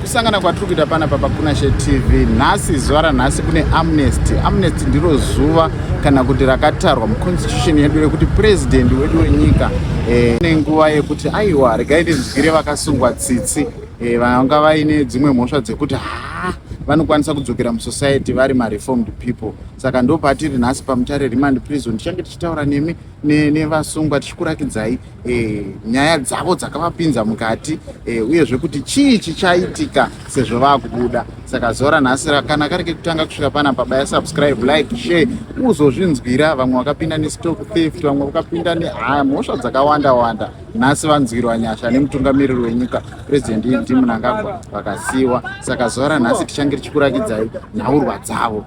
kusangana kwatiri kuita panapa pakunashe tv nhasi zuva ranhasi kune amnesty amnesty ndiro zuva kana kuti rakatarwa muconstitution yedu rekuti purezidendi wedu wenyika eh, ne nguva yekuti aiwa regai ndinzwire vakasungwa tsitsi eh, vanga vaine dzimwe mhosva dzekuti haa vanokwanisa kudzokera musociety vari mareformed people saka ndopatiri nhasi pamutare remand prison tichange tichitaura nemi nevasungwa tichikurakidzai e, nyaya dzavo dzakavapinza mukati e, uyezve kuti chii chichaitika sezvo vakubuda saka zora nhasi kana kari kekutanga kusvika pana baba ya subscribe like share uzozvinzwira vamwe vakapinda nestock theft vamwe vakapinda nehaya mhosva dzakawanda wanda nhasi vanzwirwa nyasha nemutungamiriri wenyika president ed munangagwa vakasiiwa saka zora nhasi tichange tichikurakidzai nhaurwa dzavo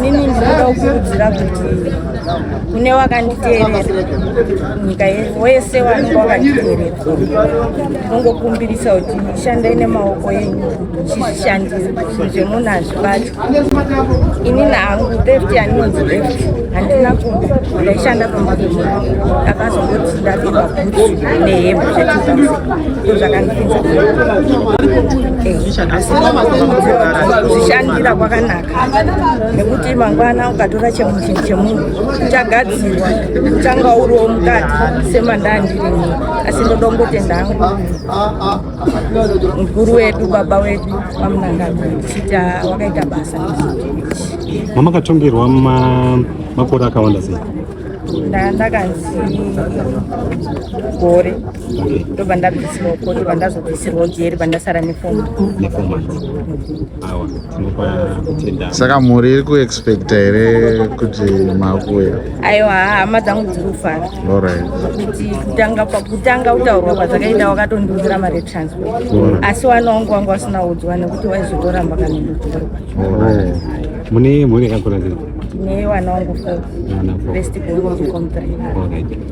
Nini ndinoda kukurudzira kuti kune wakanditeerera nyika wese wanenge wakanditeerera unongokumbirisa kuti shandai nemaoko enyu chizvishandira zvemunhu hazvibati ini nahangu theft yaninonzi theft handina kuda ndaishanda pamba pemunhu akazongoti ndapirwa bhutsu nehembe zvechizi ndo zvakandipinza eh, asi zvishandira kwakanaka nekuti mangwana ukatora chemuchinhu chemunhu uchagadzirwa uchanga uriwo mukati semandandirimo asi ndoda kungotenda hangu mukuru wedu baba wedu vamunangagwa chita wakaita basa mamakatongerwa makore akawanda sei ndakanzi gore ndobva ndabvisirwa koti vandazobvisirwa jeri vandasara nefomu saka mhuri iri kuexpecta here kuti makuya aiwa hama dzangu dziri kufara kuti kutanga pakutanga kutaurwa kwadzakaita wakatondiudzira mari etransport asi wana wangu wangu asina udzwa nekuti waizotoramba kana ndotorwa mune mhuri yakakura tine wana wangu fo best bongo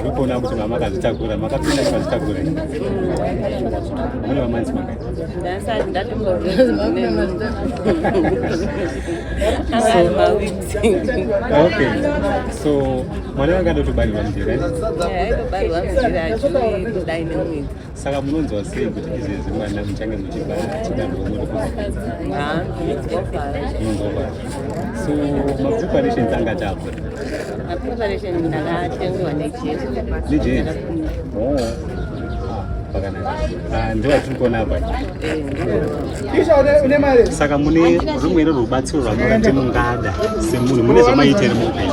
Ndikuona kuti mama akazvitakura, makapinda akazvitakura. Mune mamanzi maka. Ndasati ndatomboziva. Okay. So mwana wanga ndotobarirwa mjira. Eh, ndobarirwa mjira chini kudai nemwedzi. Saka munonzwa sei kuti izvezvi mwana muchange muchibva chidanho monotimunonzwa so mapreparations anga chapa mapreparation ndakatengewa nejesu nejesu oh Ah, ndiwa tiri kuona apa saka mune rumwene rubatsiro rwamuona kuti mungada semunhu mune zvamaitere muupenyu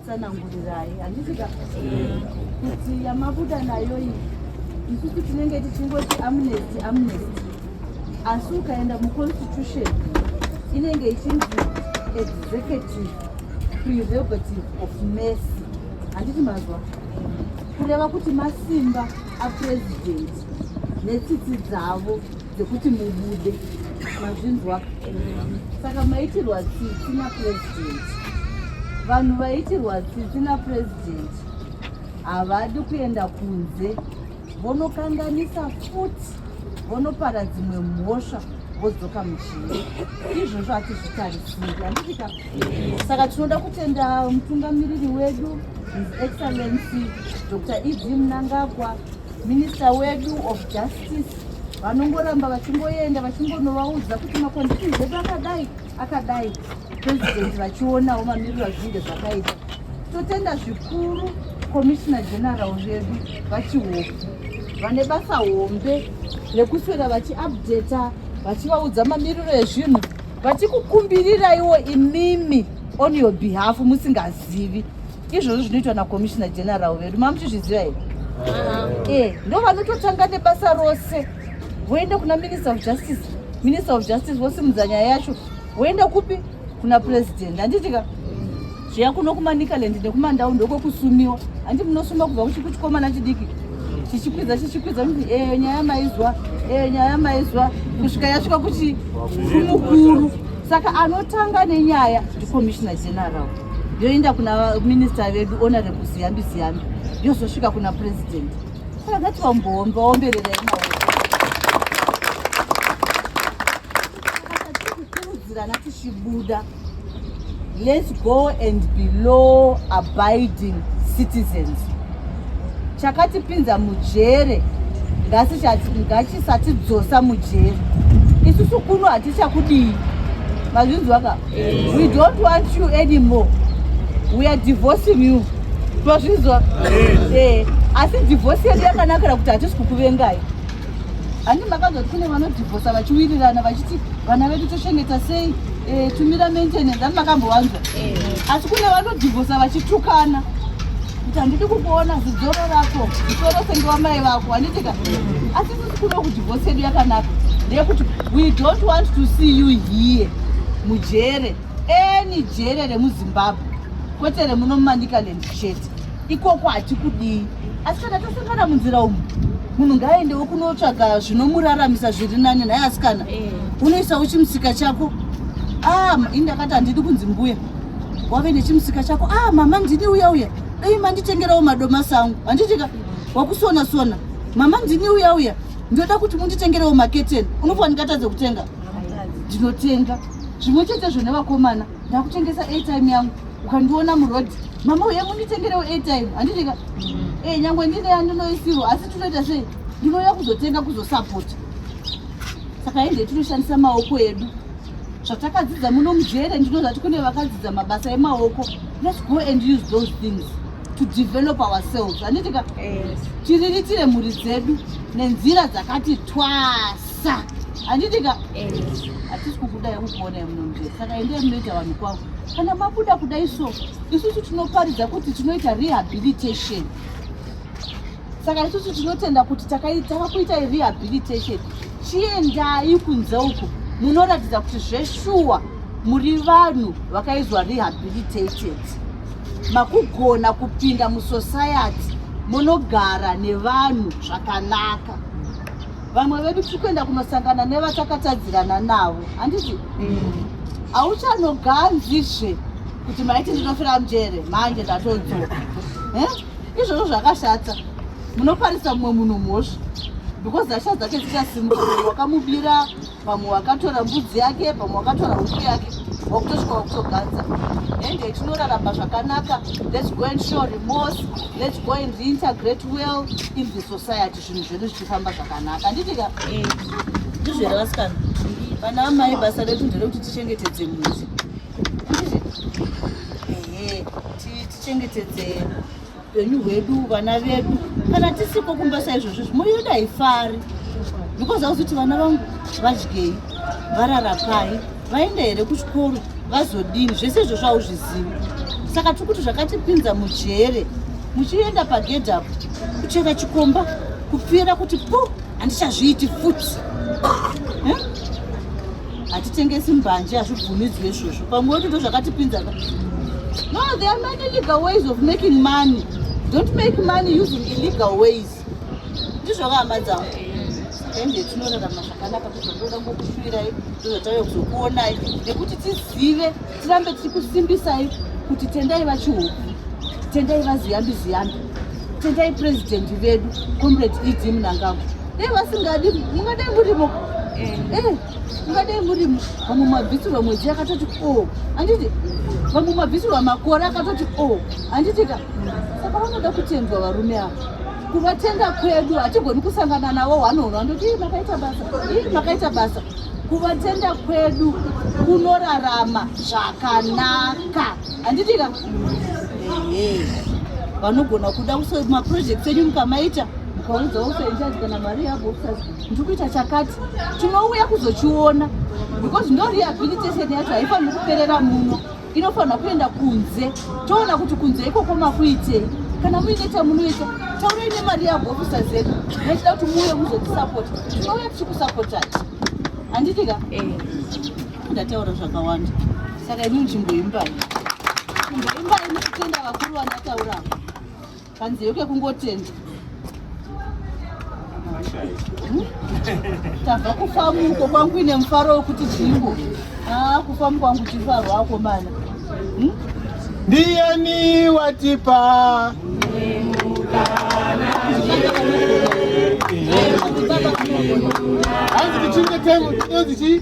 Sanangurirai handisika kuti yamabuda nayo iyi isusu tinenge tichingoti amnesty amnesty asi ukaenda muconstitution inenge ichinzi executive prerogative of mercy handiti mazwa kureva kuti masimba apresident netsitsi dzavo dzekuti mubude mazvinzwa saka maitirwa tsitsi napresident vanhu vaitirwa tsitsi napresident havadi kuenda kunze vonokanganisa futi vonopara dzimwe mhosva vodzoka muchii izvozvo hatizvitarisiri andidika saka tinoda kutenda mutungamiriri wedu his excellency dr ed mnangagwa minister wedu of justice vanongoramba vachingoenda vachingonovaudza kuti makondishini edu akadai akadai president vachionawo mamiriro azvinge zvakaita totenda zvikuru komishina general vedu vachihofu vane basa hombe rekuswera vachiupdata vachivaudza mamiriro ezvinhu vachikukumbiriraiwo imimi on your behalf musingazivi izvozvo zvinoitwa nakomishina general vedu mamuchizviziva here uh-huh. e ndo vanototanga nebasa rose voenda kuna minister of justice minister of justice vosimudza nyaya yacho voenda kupi kuna president handitika zviya kuno kumanikaland nekumandau ndokwekusumiwa handi munosuma kubva kuchiku chikomana chidiki chichikwidza chichikwidza kuti eyo eh, nyaya maizwa eyo eh, nyaya maizwa kusvika yasvika kuti kumukuru Saka anotanga nenyaya ndiCommissioner General yoenda kuna minister vedu Honorable Ziyambi Ziyambi yozosvika kuna president. Saka ngati vamboomba vaomberera imaoko kukurudzirana tichibuda let's go and be law abiding citizens chakatipinza mujere ngachisatidzosa mujere isusu kuno hatichakudii mazvinzwaka we don't want you anymore we are divorcing you tozvinzwa eh, asi divorce yedu yakanakira kuti hatisi kukuvengai handi makazoti kune vanodhivosa vachiwirirana vachiti vana vedu tochengeta sei eh, tumira maintenance handi makambowanzwa eh. asi kune vanodhivosa vachitukana kuti handidi kukuona zidzoro rako zisoro senge wamai vako handitika asi sisi kuno kuti vose yedu yakanaka ndeyekuti we don't want to see you here mujere any jere remuzimbabwe kwete remuno mumanicaland chete ikoko hatikudii asi kana tasangana munzira umu munhu ngaaendewo kunotsvaga zvinomuraramisa zviri nani nhaye asikana eh. unoisa uchimusika chako ah, ini ndakati handidi kunzi mbuya wave nechimusika chako ah mama ndini uya uya dai manditengerawo madomasi angu handitika wakusona sona mama ndini uya uya ndoda kuti munditengerewo maketeni unofa ndingatadze kutenga ndinotenga zvimwe chete zvo nevakomana ndakutengesa atime yangu ukandiona muroad mama uye munditengerewo atime handitika e eh, nyangwe ndine yandinoisirwo asi tinoita sei ndinouya kuzotenga kuzosapota saka ende tinoshandisa maoko edu zvatakadzidza muno mujere ndino zvati kune vakadzidza mabasa emaoko let's go and use those things to develop ourselves handitika tiriritire mhuri dzedu nenzira dzakati twasa handitika hatisi kukuda yekukuona yemuno mujere saka endee munoita vanhu kwavo kana mabuda kuda iso isusu tinoparidza kuti tinoita rehabilitation saka isusu tinotenda kuti takaitava kuita rehabilitation chiendai kunze uku munoratidza kuti zveshuwa muri vanhu vakaizwa rehabilitated makugona kupinda musociety munogara nevanhu zvakanaka vamwe vedu tiri kuenda kunosangana nevatakatadzirana navo handiti mm. hauchanoganzizve kuti maiti ndinofira mjere manje ndatodzoka eh? izvozvo zvakashata munoparisa mumwe munhu mhosva because zasha dzake dzichasimuka mumwe wakamubira vamwe wakatora mbudzi yake vamwe wakatora huku yake wakutosvika wakutoganza and tinoraramba zvakanaka lets go and show remorse lets go and reintegrate well in the society zvinhu zvedu zvichifamba zvakanaka anditika eh, ndizvere vasikana vana amai basa redu nderekuti tichengetedze muzi tichengetedzei upenyu hwedu vana vedu kana tisiko kumba saizvozvo zvimuri yedu haifari because auzoti vana vangu vadyei vararapai vaenda here kuchikoro vazodini zvese izvozvo hauzvizivi saka tiri kuti zvakatipinza mujere muchienda pagedhi apo kuchera chikomba kupfira kuti pu handichazviiti futi hatitengesi mbanje hazvibvumidzwe izvozvo pamwe woti ndo zvakatipinza ka no there are many legal ways of making money don't make money using illegal ways ndizvoka hama dzangu ende tinorarama zvakanaka kuti ndoda ngokushuvirai ndozvatave kuzokuonai nekuti tizive tirambe tichikusimbisai kuti tendai vachihoku tendai vaziyambi ziyambi tendai purezidhendi vedu comrade ed munangagwa dai vasingadi mungadai murimo eh. eh, mungadai murimo vamwe mabvisirwa mwedzi yakatoti o oh, anditi vamwe mabvisirwa makore akatoti o oh, anditi ka saka vanoda kutendwa varume ava kuvatenda kwedu hatigoni kusangana navo hwanohwa ndoti makaita basa ii makaita basa kuvatenda kwedu kunorarama zvakanaka handitika ehe vanogona kuda kuso maprojects enyu mukamaita mukaudza usainchaji kana mari yabo usas ndiri kuita chakati tinouya kuzochiona because ndo rehabilitation yacho haifaniri kuperera muno inofanirwa kuenda kunze toona kuti kunze ikoko makuitei kana muine chamunoita taurai nemari yabhofisa zedu nechida kuti muuye muzotisapota tinouya tichikusapotai handitika eh. ndataura zvakawanda saka ini nzvimbo imbai nzvimbo imbai nekutenda vakuru vandatauravo kanzeyo kekungotenda tabva kufamuko kwangu ine mufaro wekuti jingo aa ah, kufamuko kwangu chifaro wako mana hmm? ndiyani watipa hanzi tichinge tengo tinonzi chii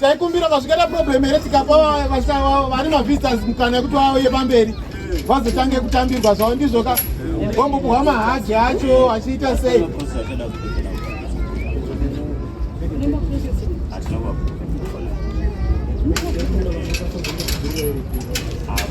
taikumbira vazvikaita problem here tikapa vari mavisitors mukana yekuti vauye pamberi vazotange kutambirwa zvavo ndizvo ka vambopuhwa mahaji acho achiita sei